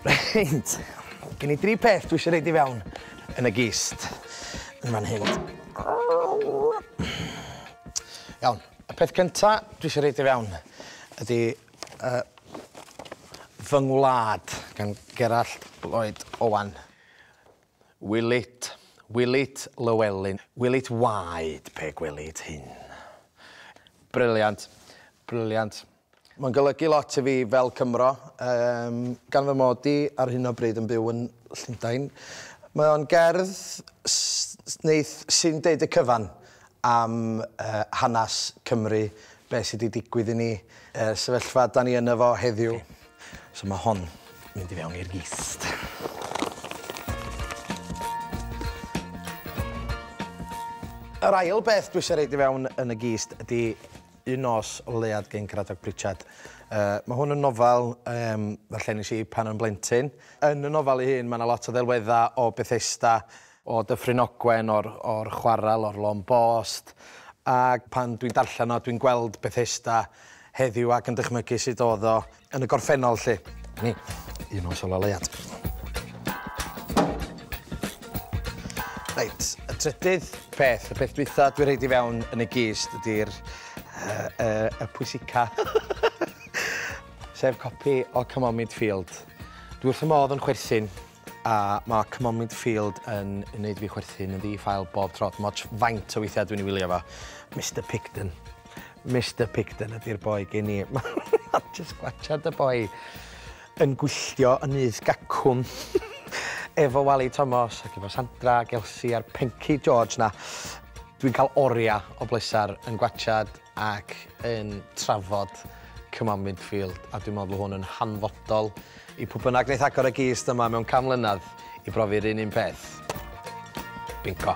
Reit, gen i dri peth dwi eisiau rhaid i fewn yn y gist yn fan hyn. Iawn, y peth cynta dwi eisiau rhaid i fewn ydy uh, fy ngwlad gan Gerallt Lloyd Owen. Will it, will it, Llewelyn, will it waed pe gwelid hyn? Brilliant, brilliant. Mae'n golygu lot i fi fel Cymro, yym, gan fy mod i ar hyn o bryd yn byw yn Llundain. Mae o'n gerdd s- neith sy'n deud y cyfan am uh, hanas Cymru, beth sydd wedi digwydd i ni, uh, sefyllfa da ni yno fo heddiw. Okay. So ma' hon mynd i fewn i'r gist. Yr ail beth dwi isie roid i fewn yn y gist ydi Un Nos o Leuad gin Cradock Pritchard. Uh, mae hwn yn nofel um, ddarllenis i pan o'n blentyn. Yn y nofel ei hun, mae yna lot o ddelweddau o Bethesda o Dyffryn Ogwen, o'r o'r chwarel, o'r Lôn Bost, ac pan dwi'n darllen o, dwi'n gweld Bethesda heddiw ac yn dychmygu sut o'dd o yn y gorffennol 'lly. A 'ny un o'r siola leiad. Reit, y trydydd peth, y peth dwytha dwi rhoid i fewn yn y gist ydi'r yy y y pwysica. Sef copi o Come On Midfield. Dwi wrth fy modd yn chwerthin A mae Cymomid Field yn wneud fi chwerthin yn ddi ffael bob tro. Mae ots faint o weithiau dwi'n ei wylio fo. Mister Pigden. Mister Pigden ydy'r boi gen i. Mae jyst gwachad y boi yn gwylltio yn nyth gacwn efo Wali Tomos ac efo Sandra ac Elsi a'r Penci George 'na. Dwi'n cael oriau o bleser yn gwachad ac yn trafod Cymal Midfield a dwi'n meddwl bod hwn yn hanfodol i pwy bynnag wneith agor y gist yma mewn can mlynedd i brofi'r un un peth. Bingo.